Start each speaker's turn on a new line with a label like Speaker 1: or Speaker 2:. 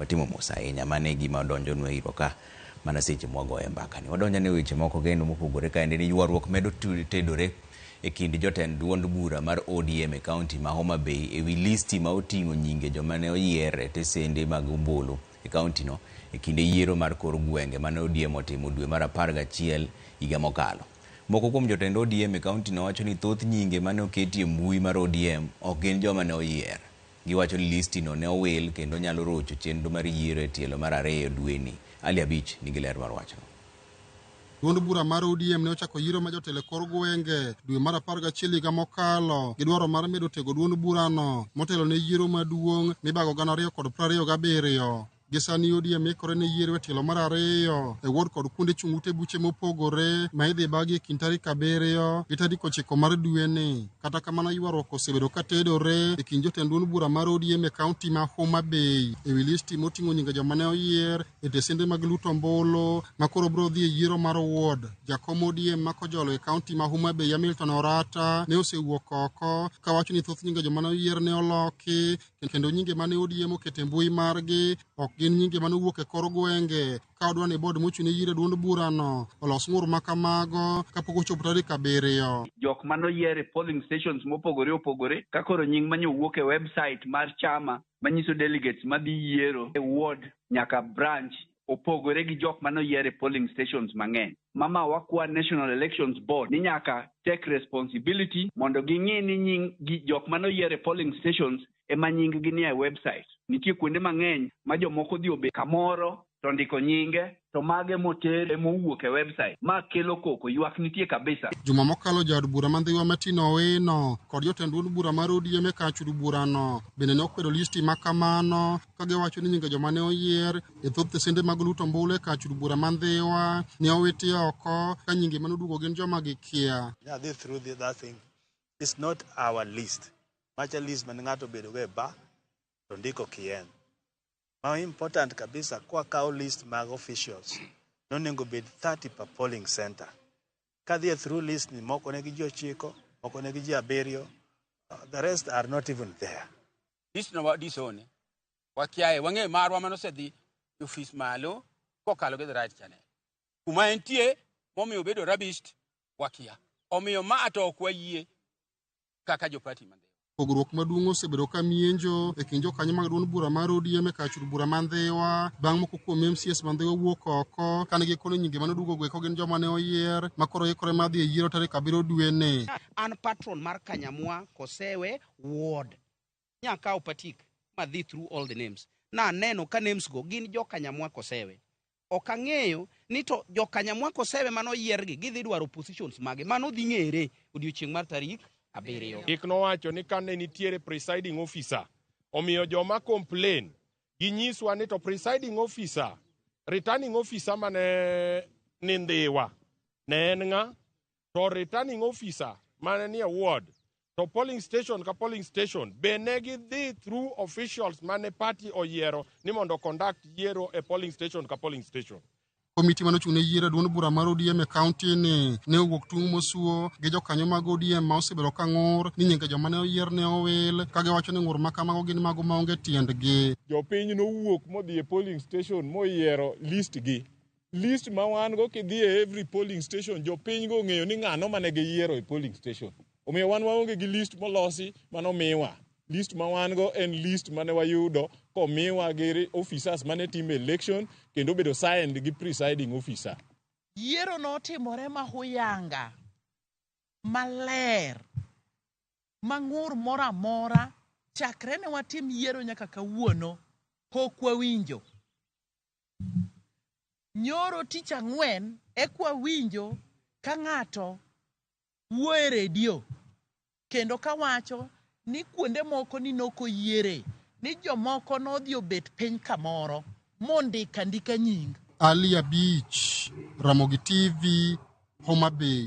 Speaker 1: Watimo mos ahinya. Mano e gima donjonu e iro ka mana seche ma wagoyo e mbaka ni. Wadonjo ane e weche moko kendo mopogore kaende ni ywaruok medo tedore e kind jotend duond bura mar ODM e kaunti ma Homa Bay e wi listi ma oting'o nyinge joma ne oyier e tesende mag ombulu e kauntino e kinde yiero mar kor gwenge mane ODM otimo dwe mar apar gachiel higa mokalo. Moko kuom jotend ODM e kauntino wacho ni thoth nyinge mane oketi e mbui mar ODM ok gin joma ne oyier. Giwacho ni listi no ne owil kendo nyalo rocho chenro mar yiero e tielo mar ariyo dweni. Ali Abich nigi ler mar wachno. Duond
Speaker 2: bura mar ODM ne ochako yiero ma jotelo e kor gwenge dwe mar apar gachiel higa mokalo gi dwaro mar medo tego duond burano motelo ne yiero maduong' mibago gana ariyo kod prariyo gabiriyo. Gi sani ODM ikore ne yiero e tielo mar ariyo e ward kod kuonde chung' ute buche mopogore ma idhi bagi e kind tarik abiriyo gi tarik ochiko mar dweni. Kata kamano ywaruok osebedo ka tedore e kind jotend duond bura mar ODM e kaunti ma Homa Bay e wi listi moting'o nyinge joma ne oyier e tesende mag luto ombulu ma koro biro dhi e yiero mar ward. Jakom ODM ma kojolo e kaunti ma Homa Bay Hamilton Orata ne osewuok oko kawacho ni thoth nyinge joma ne oyier ne oloki kendo nyinge mane odie moket e mbui margi ok gin nyinge mane owuok e kor gwenge ka odwa ni bod mochung' ne yiero duond burano olos ng'ur ma kamago kapok ochopo tarik abiriyo. jok mane oyier
Speaker 3: e polling stations mopogore opogore ka koro nying manye owuok e website mar chama manyiso delegates madhi yiero e ward nyaka branch opogore gi jok mane oyier e polling stations mang'eny. Mama wakwa National Elections Board ni nyaka take responsibility mondo ging'i ni nying gi jok mane oyier e polling stations ema nying gi nie website. Nitie kuonde mang'eny ma jomoko odhi obet kamoro to ndiko nyinge to mage moter ema owuok e website. Ma kelo koko, ywak nitie kabisa. Juma mokalo jaod
Speaker 2: bura ma Ndhiwa Martin Owino kod jotend duond bura mar ODM e kar chud burano bende ne okwedo listi ma kamano. ka giwacho ni nyinge joma ne oyier e thoth tesende mag luto ombulu e kach od bura ma Ndhiwa ne owiti oko ka nyinge mane oduogo gin joma gikia. Yeah, they threw the, that thing.
Speaker 4: It's not our list. Macha list man ng'ato bedogo e bar to ndiko kien. Ma important kabisa kwa kawo list mag officials nonego bed 30 per polling center. Ka dhie through list ni moko ne gi ji ochiko, moko ne gi ji abiriyo, uh, the rest are not even there. dis no
Speaker 5: dis one wakiaye wang'e marwa mane osedhi e ofis malo kokalo gi the right channel kuma entie momiyo obedo rabist wakia omiyo ma to ok wayie kaka jopati mande pogruok maduong'
Speaker 2: osebedo ka mienjo e kind jokanyo mag duond bura mar ODM e kachud bura ma Ndhiwa bang' moko kuom MCS ma Ndhiwa wuok oko kane gikone nyinge mane oduogo eko gin joma ne oyier ma koro ikore mar dhi e yiero tarik abiriyo dwe ni. An patron
Speaker 6: mar Kanyamwa Kosewe Ward. Nya kawo patik ma dhi through all the names. Naneno ka names go gin joka Nyamwa Kosewe. Ok ang'eyo ni to joka Nyamwa Kosewe mane oyier gi gidhi dwaro positions mage. Mano dhi ng'ere odiochieng' mar tarik abiriyo. Chik nowacho ni
Speaker 7: kane nitiere presiding officer, omiyo joma complain ginyiswa ni to presiding officer, returning officer mane ni Ndhiwa ne en ng'a? to returning officer mane nie ward to polling station ka polling station be ne gidhi through officials mane party oyiero ni mondo conduct yiero e polling station ka polling station komiti mane ochung' ne
Speaker 2: yiero e duond bura mar ODM e kaunti ni ne owuok tung' mosuo gi jokanyo mag ODM ma osebedo ka ng'ur ni nyinge joma ne oyier ne owil ka giwacho ni ng'ur ma kamago gin mago maonge tiendgi. Jopiny nowuok
Speaker 7: modhi e polling station moyiero listgi list ma wan go kidhi e every polling station jopiny go ong'eyo ni ng'ano mane giyiero e polling station omiyo wan waonge gi list molosi mano miwa list ma wan go en list mane wayudo komiwa gi officers mane timo election kendo obedo signed gi presiding officer yiero
Speaker 8: notimore ma huyanga maler ma ng'ur moro amora chakre ne watim yiero nyaka kawuono pok wawinjo Nyoro tich ang'wen ekwa winjo ka ng'ato wuo e redio kendo kawacho ni kuonde moko ni nok oyiere ni jomoko nodhi obet piny kamoro mondik
Speaker 2: andika nying. Ali Abich, Ramogi TV,
Speaker 8: Homa
Speaker 2: Bay.